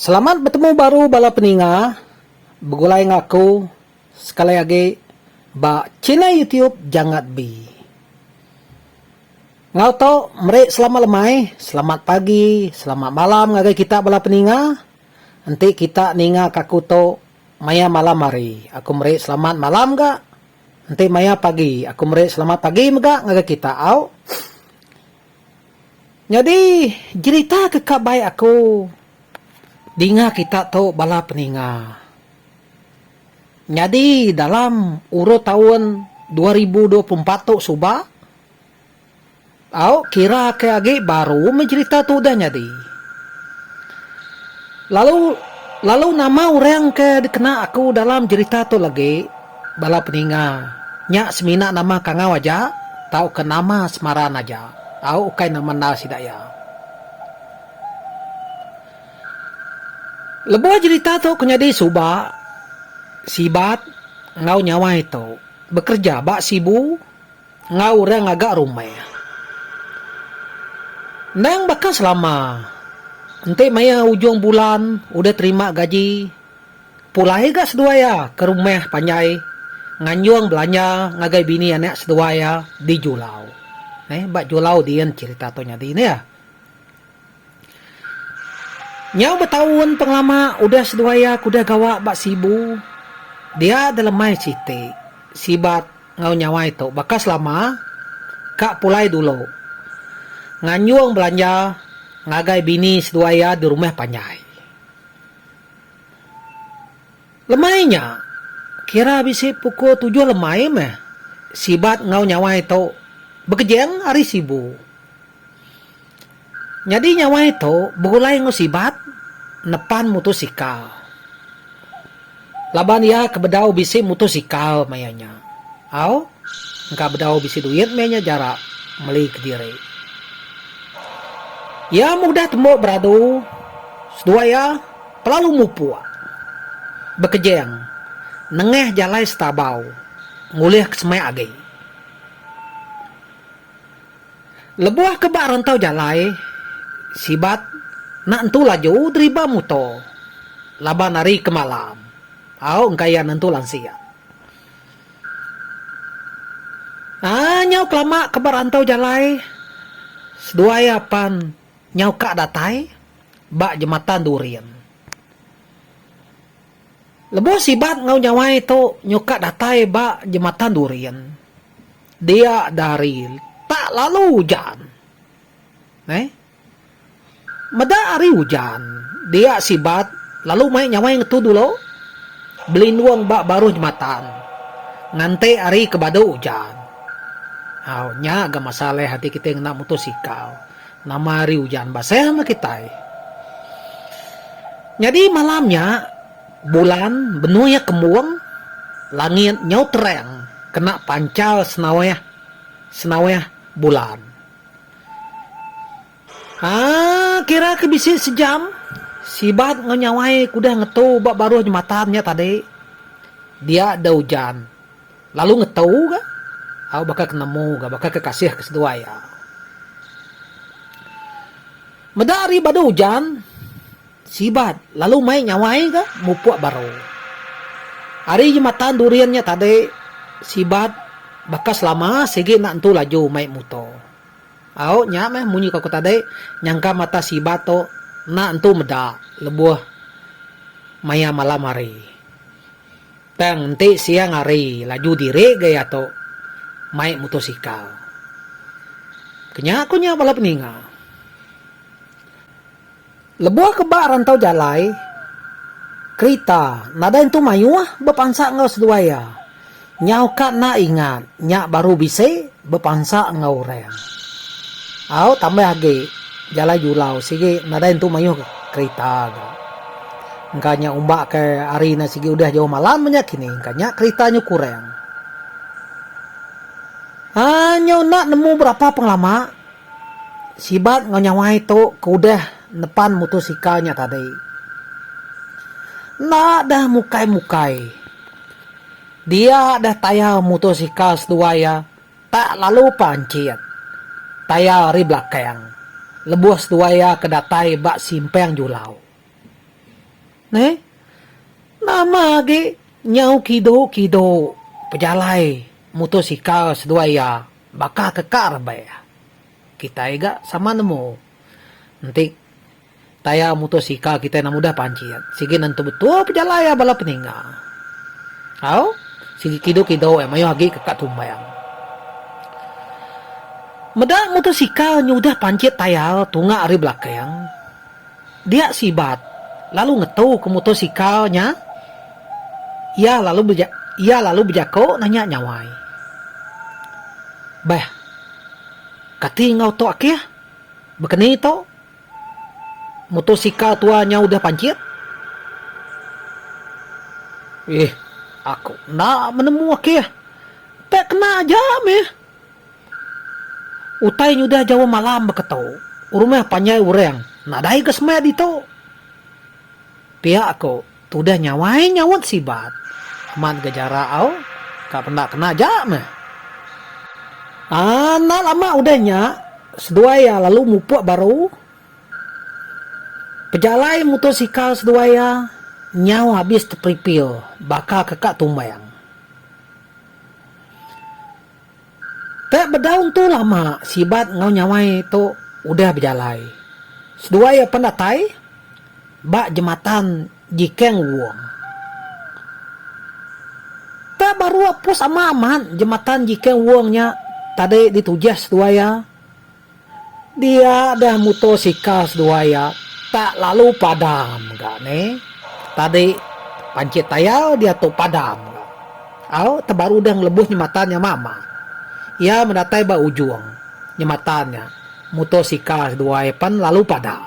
Selamat betemu baru bala peninga, begulai enggau aku sekali agi ba channel YouTube Jangat Bi. Enggau tu meri selamat lemai, selamat pagi, selamat malam ngagai kita bala peninga. Enti kita ninga ka aku tu maya malam hari, aku meri selamat malam ga. Enti maya pagi, aku meri selamat pagi mega ngagai kita au. Nyadi jerita ke ka baik aku dinga kita tu bala peninga. Nyadi dalam urut taun dua ribu dua puluh empat tu suba au kira ke agi baru meh jerita tu udah nyadi. Lalu lalu nama orang ke dikena aku dalam jerita tu legi. Bala peninga nya semina nama kangau aja tauka nama semaran aja au ukai nama endar sida iya. Lebuh jerita tu ke nyadi suba Sibat enggau Nyawai tu bekereja ba Sibu enggau orang ngaga rumah. Endang baka selama enti maya ujung bulan udah terima gaji. Pulai ga seduai iya ke rumah panjai nganjung belanja ngagai bini anak seduai iya di Julau. Neh ba Julau din cerita tu nyadi neh. Nyau betaun pengelama udah seduai iya ke udah gawa ba Sibu dia delemai siti sibat enggau nyawai tu baka selama ka pulai dulu nganjung belanja ngagai bini seduai iya di rumah panjai. Lemai nya, kira bisi pukul tujuh lemai meh, Sibat enggau Nyawai tu bekejeng ari Sibu. Nyadi Nyawai tu begulai enggau Sibat nepan mutosikal. Laban iya ke bedau bisi mutosikal maya nya. Au, engka bedau bisi duit maya nya jara meli kediri. Iya meh udah tembu beradu seduai iya. Kelalu mupuk. Bekejeng. Nengah jalai setabau. Ngulih ke semai agi. Lebuh ke ba rantau jalai, Sibat nak entu laju deriba muto laban ari ke malam au engka iya nentu lansik. Aa nyau kelama ke ba rantau jalai, seduai iya pan nyau ka datai. Ba Jematan Durin. Lebuh Sibat enggau Nyawai tu nyuka datai ba Jematan Durin, dia dari tak lalu ujan. Neh. Meda hari ujan, dia Sibat lalu mai Nyawai ngetu dulu belindung ba baruh jematan nganti hari ke badu ujan. Au, nya ga masalah ati kitai ngena mutosikal. Nama ari ujan ba sehma kitai. Nyadi malam nya, bulan benoi iya kembung, langit nyau terang kena panchar senaweh senaweh bulan. Haa kira ke bisi sejam, Sibat enggau Nyawai ke udah ngetu ba baruh jematan nya tadi, dia deh ujan. Lalu ngetu ga au baka ke nemu ga baka ke kasih ke seduai au. Meda ari badu ujan sibat lalu mai nyawai ga mupuk baru. Ari jematan Durian nya tadi sibat baka selama sigi enda entu laju mai muto. Au nya meh munyi ko aku tadi nyangka mata sibat tu enda entu meda lebuh maya malam hari. Tang enti siang hari laju diri gaya tu mai mutosikal. Kenya ku nya bala peninga. Lebuh ke ba rantau jalai kerita nadai entu mayuh bepansa enggau seduai iya. Nyau ka enda ingat nya baru bisi bepansa enggau orang. Au tambah agi jalai julau sigi nadai entu mayuh kerita ga. Engka nya umbak ke ari ne sigi udah jauh malam menya kini engka nya kerita nyu kurang. Aa nyu enda nemu berapa pengelama sibat enggau nyawai tu ke udah nepan mutosikal nya tadi. Enda deh mukai mukai. Dia deh tayar mutosikal seduai iya tak lalu panchit. Tayar ari belakang. Lebuh seduai iya ke datai ba simpang julau. Neh. Nama agi nyau kidu-kidu pejalai mutosikal seduai iya baka ke ka rebak iya. Kitai ga sama nemu. Enti tayar mutosikal kitai enda mudah pancit. Sigi nentu betul pejalai iya bala peninga. Au, sigi kidu-kidu iya mayuh agi ke ka tumbang. Meda mutosikal nyudah pancit tayar tunga ari belakang. Dia Sibat lalu ngetu ke motosikal nya iya lalu beja iya lalu bejako nanya Nyawai. Beh. Kati enggau tu Akih? Bekeni tu motosikal tua nya udah panchit? Ih, aku enda menemu Akih. Pek kena aja mih. Utai nyudah jawa malam beketu, rumah panjai urang nadai ga semak ditu. Pia aku tudah nyawai nyaut sibat amat ga jarak au ka penda kena aja meh. Enda lama udah nya seduai iya lalu mupuk baru. Pejalai mutosikal seduai iya nyau habis teperipil baka ke ka tumbang. Teh bedaun tu lama sibat enggau nyawai tu udah bejalai. Seduai iya pen datai ba jematan Jikeng Wong. Teh baru apus ama amat jematan Jikeng Wong nya tadi ditujih seduai iya. Dia dah muto sikal seduai ia tak lalu padam ga ne. Tadi pancit tayau diatu padam ga. Au tebaru udah ngelebuh nyematan nya mama. Ia medatai ba ujung nyematan nya muto sikal seduai pan lalu padam.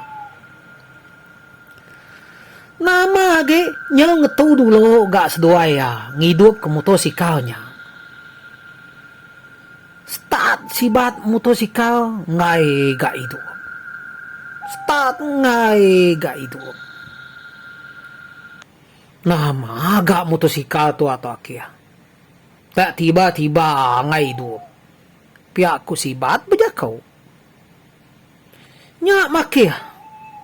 Nama agi nyau ngetu dulu ga seduai ia ngidup ke muto sikal nya. Start sibat mutosikal enggai ga idup. Start enggai ga idup. Nama ga mutosikal tu ato akih. Dak tiba tiba enggai idup. Pia ku sibat bejako. Nya makih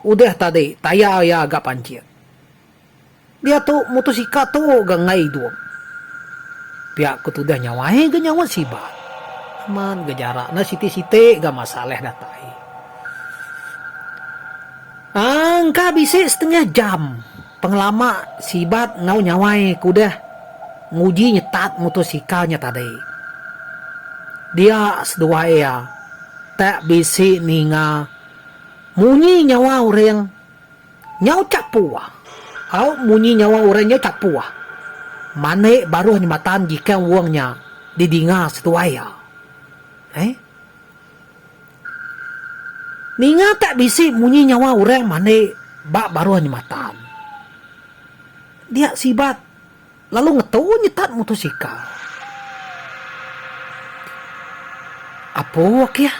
udah tadi tayar iya ga pancit. Diatu mutusika tu ga enggai idup. Pia ku tudah nyawai ga nyaut Sibat. Amat ga jarak enda siti-siti ga masa leh datai. Aaa engka bisi setengah jam pengelama Sibat enggau nyawai ke udah nguji nyetat mutusika nya tadi. Dia seduwa iya tak bisi ninga munyi nyawa orang. Nyau Capuah au munyi nyawa orang nyau Capuah. Manik baruh nyematan jikang wong nya didinga setuai iya. Ai. Ninga tak bisi munyi nyawa orang manik ba baruh nyematan. Dia sibat. Lalu ngetu nyetat mutosikal. Apu Okia,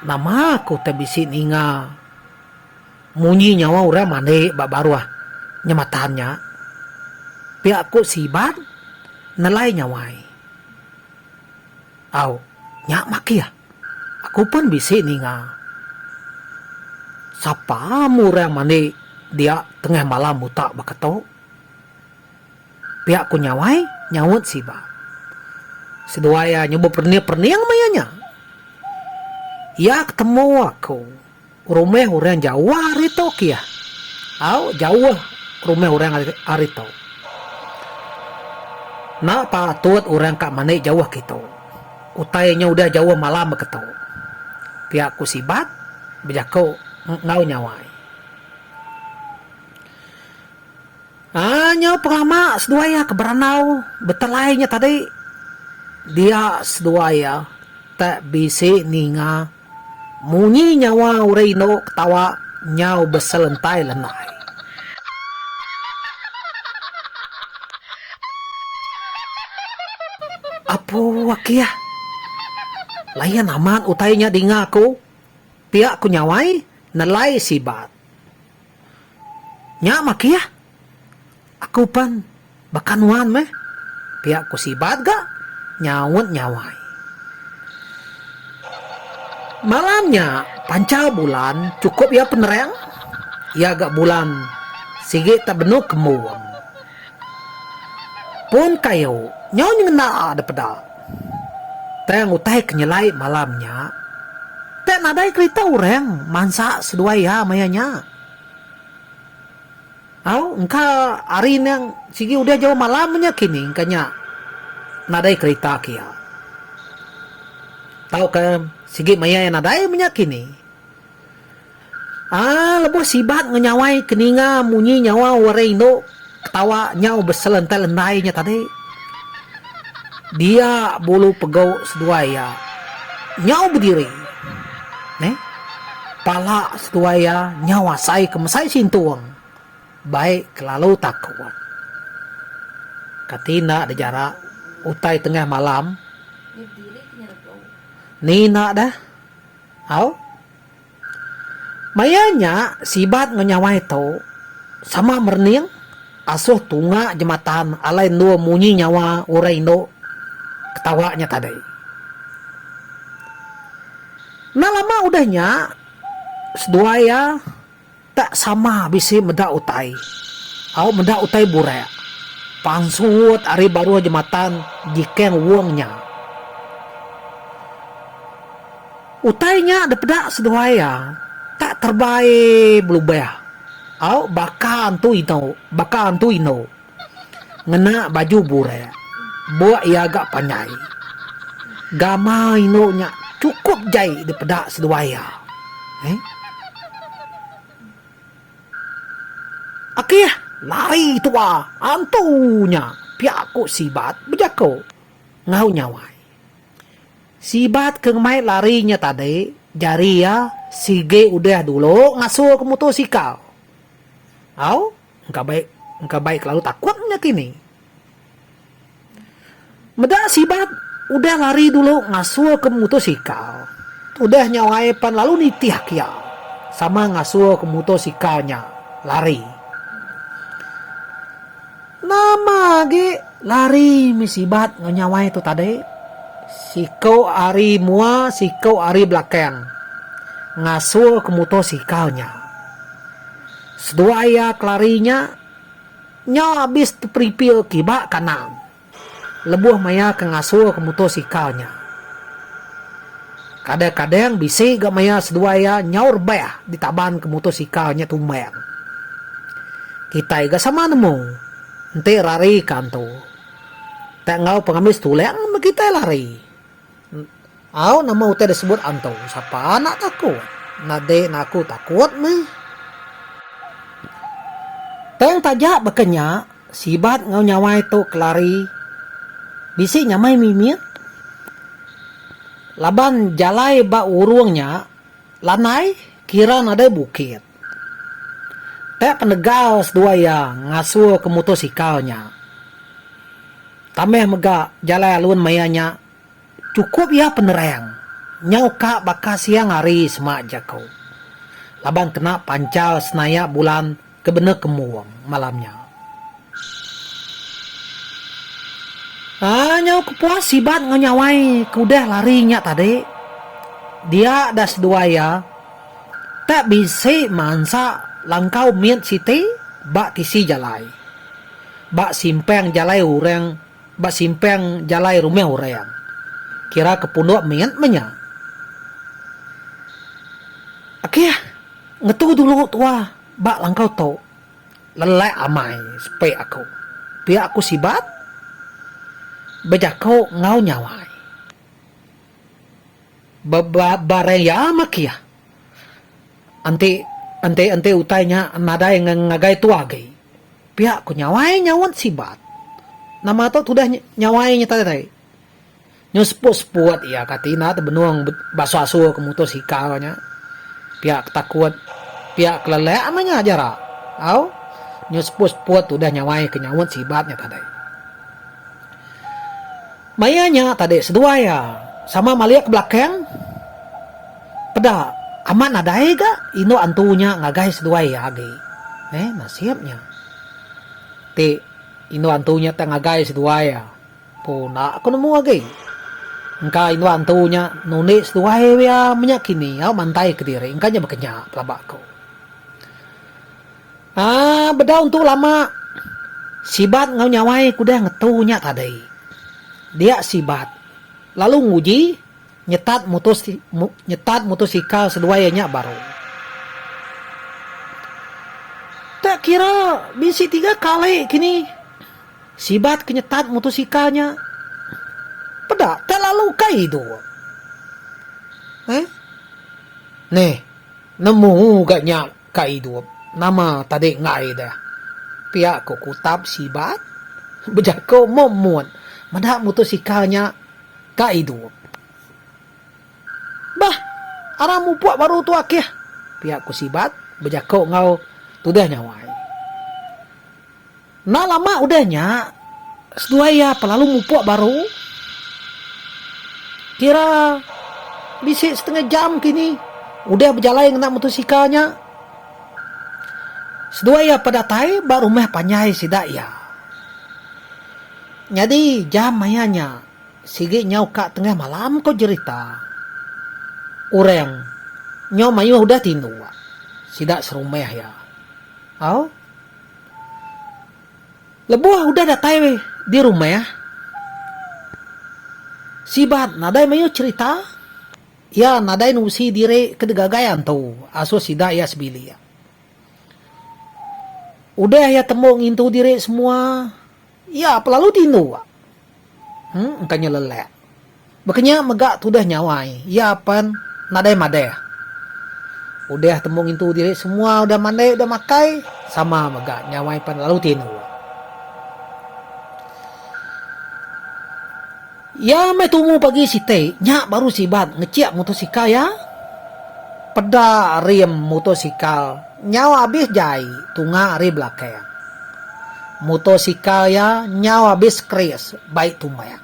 nama aku teh bisi ninga munyi nyawa orang mandi ba baruh nyematan nya. Pia ku Siban nelai nyawai. Au, nya makih. Aku pen bisi ninga. Sapa mu orang mandi dia tengah malam utak baka tu? Pia ku Nyawai nyaut Siba. Seduai iya nyuba perning-perning maya nya. Iya ke temu aku. Rumah orang jauh ari tu ke iya. Au jauh rumah orang ari tu. Enda patut orang ka mandi jauh ke itu. Utai nya udah jauh malam ba ke tu. Pia ku Sibat bejaku enggau Nyawai. Aa nyau perama seduai iya ke berandau betelai nya tadi dia seduai iya tak bisi ninga munyi nyawa orang indu ketawa nyau beselentai lenai. Apu akih. Layan amat utai nya dinga aku. Pia ku nyawai nelai sibat. Nya makia. Aku pan baka nuan meh. Pia ku Sibat ga nyaut nyawai. Malam nya pancha bulan chukup iya penerang. Iya ga bulan sigi ta benuk kembung. Pun kayu nyau nyengena da peda. Tang utai ke nyelai malam nya, pia nadai kerita orang mansa seduai iya maya nya. Au, engka hari nya sigi udah jauh malam nya kini engka nya nadai kerita ke iya. Tauka sigi maya iya nadai menya kini. Aaa lebuh sibat ngenyawai ke ninga munyi nyawa orang indu ketawa nyau beselentai lentai nya tadi. Dia bulu pegu seduai iya nyau bediri neh pala seduai iya nyau asai ke mesai sintung bai kelalu takut. Kati enda deh jarak utai tengah malam ni enda deh. Au. Maya nya Sibat enggau Nyawai tu sama merening asuh tunga jematan alai endur munyi nyawa orang indu ketawa nya tadi. Enda lama udah nya seduai iya Tak sama bisi meda utai. Au meda utai burak. Pansut ari baruh jematan Jikeng Wong nya. Utai nya dipeda seduai iya tak terbai belubah. Au baka antu inu, baka antu inu. Ngena baju burak, buk iya ga panjai. Gama indu nya chukup jai dipeda seduai iya. Heh. Akih, lari tua antu nya, pia ku Sibat bejaku enggau Nyawai. Sibat ke ngemai lari nya tadi jari iya sigi udah dulu ngasulka mutosikal. Au. Engka bai engka bai kelalu takut nya kini. Meda sibat udah lari dulu ngasulka mutosikal. Udah nya wai pan lalu nitihka iya sama ngasulka mutosikal nya lari. Nama agi lari mih sibat enggau nya wai tu tadi. Siku ari mua siku ari belakang ngasulka mutosikal nya. Seduai iya kelari nya, nya abis teperipil kiba kandang lebuh maya ke ngasulka mutosikal nya. Kadang-kadang bisi ga maya seduai iya nyau rebah ditabanka mutosikal nya tumbang. Kitai ga sama nemu, enti rarika antu, tak enggau pengamis tulang meh kitai lari. Au nama utai disebut antu sapa anak taku nadai na aku takut meh. Tang taja baka nya sibat enggau nyawai tu kelari bisi nyamai mimit laban jalai ba urung nya lanai kira nadai bukit. Tang penegal seduai iya ngasuh ke mutosikal nya tambah mega jalai alun maya nya Chukup iya penerang nyau ka baka siang hari semak jaku laban kena panchar senaya bulan ke bena kembung malam nya. Aa nyau kepuas sibat enggau nyawai ke udah lari nya tadi. Dia da seduai iya tak bisi mansa langkau mit siti ba tisi jalai. Ba simpang jalai orang ba simpang jalai rumah orang, kira ke punduk mit meh nya. Akih, ngetu dulu tua ba langkau tu. Lelak amai sepi aku. Pia aku sibat bejako enggau nyawai. Ba-ba-barang iya maki ah. Enti enti enti utai nya nadai ngagai tua agi. Pia ku nyawai nyaut Sibat. Nama tu tudah nyawai nya tadi tai. Nyau seput-seput iya kati enda tu benung basua-sua ke mutus ikau nya. Pia ke takut, pia ke lelak meh nya aja rak. Au. Nyau seput-seput tudah nyawai ke nyaut Sibat nya tadi. Maya nya tadi seduai iya sama malik ke belakang peda amat nadai ga indu antu nya ngagai seduai iya agi. Neh nasib nya. Ti indu antu nya tak ngagai seduai iya empu enda ko nemu agi. Engka indu antu nya nundi seduai iya menya kini au mantai kediri engka nya bekenyah pelaba ko. Aa bedau entu lama. Sibat enggau nyawai ku deh ngetu nya tadi. Dia Sibat. Lalu nguji nyetat mutus nyetat mutosikal seduai iya nya baru. Tak kira bisi tiga kali kini Sibat ke nyetat mutosikal nya. Peda tak lalu ka idu. Heh. Neh. Nemu ga nya. Ka idup nama tadi enggai deh. Pia ko Kutap sibat bejako mum mut meda mutosikal nya ka idup. Bah arang mupuk baru tu akih pia ko sibat bejako enggau tudah nyawai. Enda lama udah nya, seduai iya belalu mupuk baru. Kira bisi setengah jam kini udah bejalai ngena mutosikal nya, seduai iya bedatai ba rumah panjai sida iya. Nyadi jam maya nya sigi nyau ka tengah malam ko jerita orang nyau mayuh udah tindu sida serumah iya. Au. Lebuh udah datai di rumah, Sibat nadai mayuh cherita, iya nadai nusi diri ke digagai antu asuh sida iya sebilik. Udah iya tembu ngintu diri semua. Iya pelalu tindu ba. Hang engka nya lelak. Baka nya mega tudah nyawai iya pan nadai madah. Udah tembu ngintu diri semua udah mandai udah makai sama mega nyawai pan lalu tindu ba. Iya meh tumu pagi siti nya baru sibat ngechik motosikal iya. Peda rim motosikal nyau abis jai tunga ari belakang. Motosikal iya nyau abis skris bai tumbang.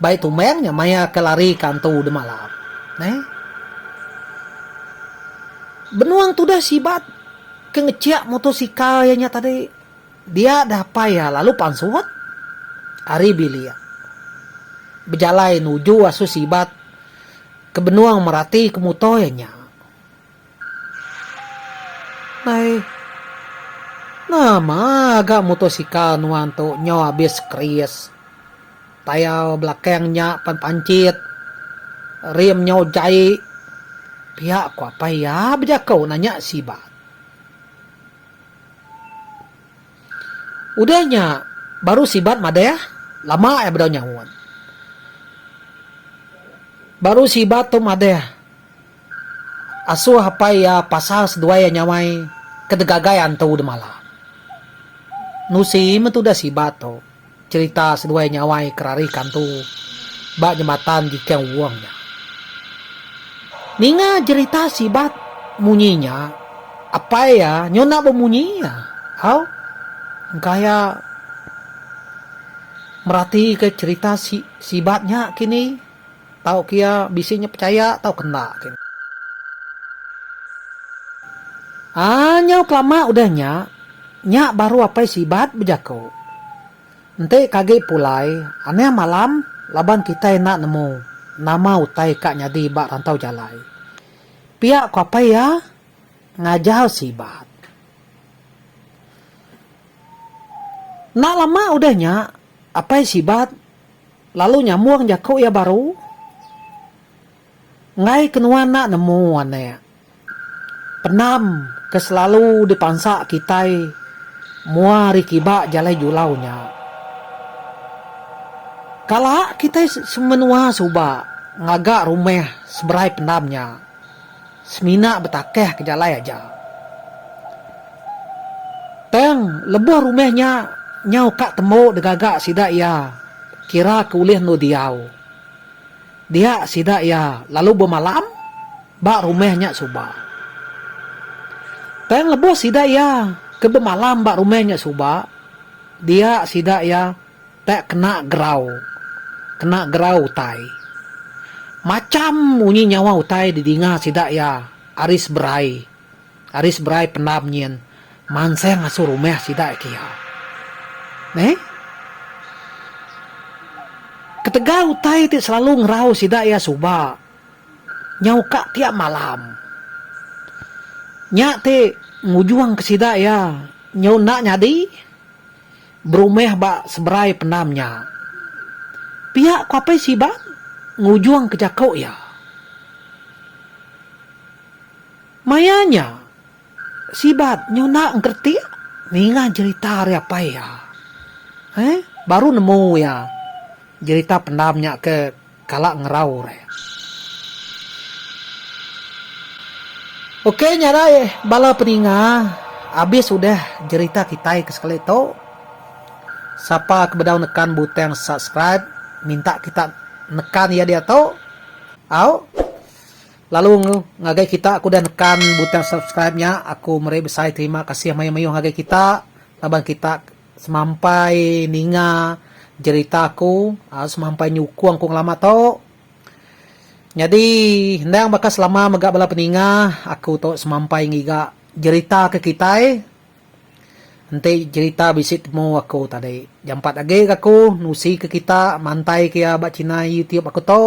Bai tumbang nya maya ke lari ke antu udah malam. Neh. Benung tudah sibat ke ngechik motosikal iya nya tadi. Dia dapai iya lalu pansut ari bilik. Bejalai nuju asu sibat ke benung merati ke muto iya nya. Nai. Nama ga mutosikal nuan tu nyau abis keris. Tayar belakang nya pan panchit. Rim nyau jai. Pia ku apai iya bejako nanya sibat. Udah nya, baru Sibat madah, Lama ai bedau nyaut. Baru Sibat tu madah, Asuh apai iya pasal seduai iya nyamai ke degagai antu demalam. Nusi meh tudah Sibat tu. Cherita seduai nyawai kerari kantu ba nyematan Jikang Wuong nya. Ninga jerita sibat munyi nya apai iya nyunak bemunyi iya au engka iya meratika cherita sibat nya kini. Tau ke iya bisi nya pechaya tau ke enda ke. Aa nyau kelama udah nya, nya baru apai Sibat bejaku. Enti ke agi pulai, anang malam laban kitai enda nemu nama utai ka nyadi ba rantau jalai. Pia ku apai iya ngajau Sibat. Enda lama udah nya, apai Sibat. Lalu nyambung jaku iya baru, Enggai ke nuan enda nemu, anak, penam ke selalu dipansa kitai mua ari kiba jalai julau nya. Kala kitai semenua suba ngaga rumah seberai penam nya. Semina betakah ke jalai aja. Tang lebuh rumah nya nyau ka tembu degaga sida iya kira ke ulih endu diau. Dia sida iya lalu bemalam ba rumah nya suba. Tang lebuh sida iya ke bemalam ba rumah nya suba, dia sida iya. Tek kena gerau, kena gerau utai. Macham munyi nyawa utai didinga sida iya ari seberai, ari seberai pendam nyin manseng asu rumah sida iya kiya. Neh. Ketegal utai ti selalu ngerau sida iya suba nyau ka tiap malam. Nya ti ngujungka sida iya nyau enda nyadi berumah ba seberai pendam nya. Pia ku Apai Sibang ngujung ke jaku iya. Maya nya, Sibat nyuna engkeretik ninga jerita ari apai iya. Baru nemu iya jerita pendam nya ke. Kala ngerau re. Okey nyarai bala peninga abis udah jerita kitai ke sekali tu. Sapa ke bedau nekan butang subscribe minta kita nekan iya diatu au. Lalu ngagai kita ke udah nekan butang subscribe nya aku meri besai terima kasih mayuh-mayuh ngagai kita laban kita Semampai ninga jerita aku, semampai nyukung ku ngelama tu. Nyadi endang baka selama mega bala peninga aku tu semampai ngiga jerita ke kitai. Enti jerita bisi temu aku tadi jampat agi ke aku nusi ke kita mantai ke iya ba china youtube aku tu.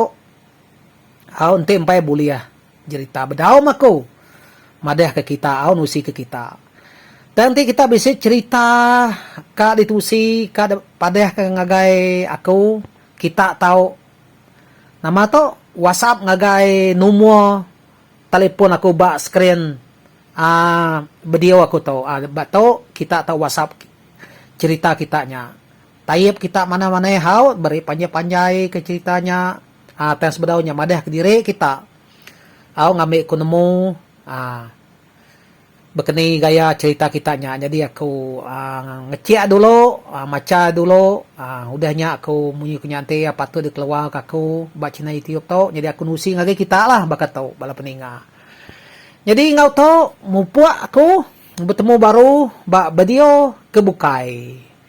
Au enti empai bulih jerita bedaum aku madah ke kita au nusi ke kita. Tang ti kita bisi cerita ka ditusi ka padah ke ngagai aku kita tau nama tu whatsapp ngagai numur telefon aku ba screen aaa video aku tu. Aaa ba tu kita tau whatsapp cerita kita nya. Taib kita manah manah haut beri panjai panjai ke cerita nya aa tang sebedau nya madah ke diri kita au ngambi ku nemu aa bekeni gaya cerita kita nya jadi aku aa ngechek dulu aa macha dulu aa udah nya aku munyi ku nya enti iya patut di keluar ka aku ba channel youtube tu jadi aku nusi ngagai kita lah baka tu bala peninga jadi enggau tu mupuk aku betemu baru ba video ke bukai.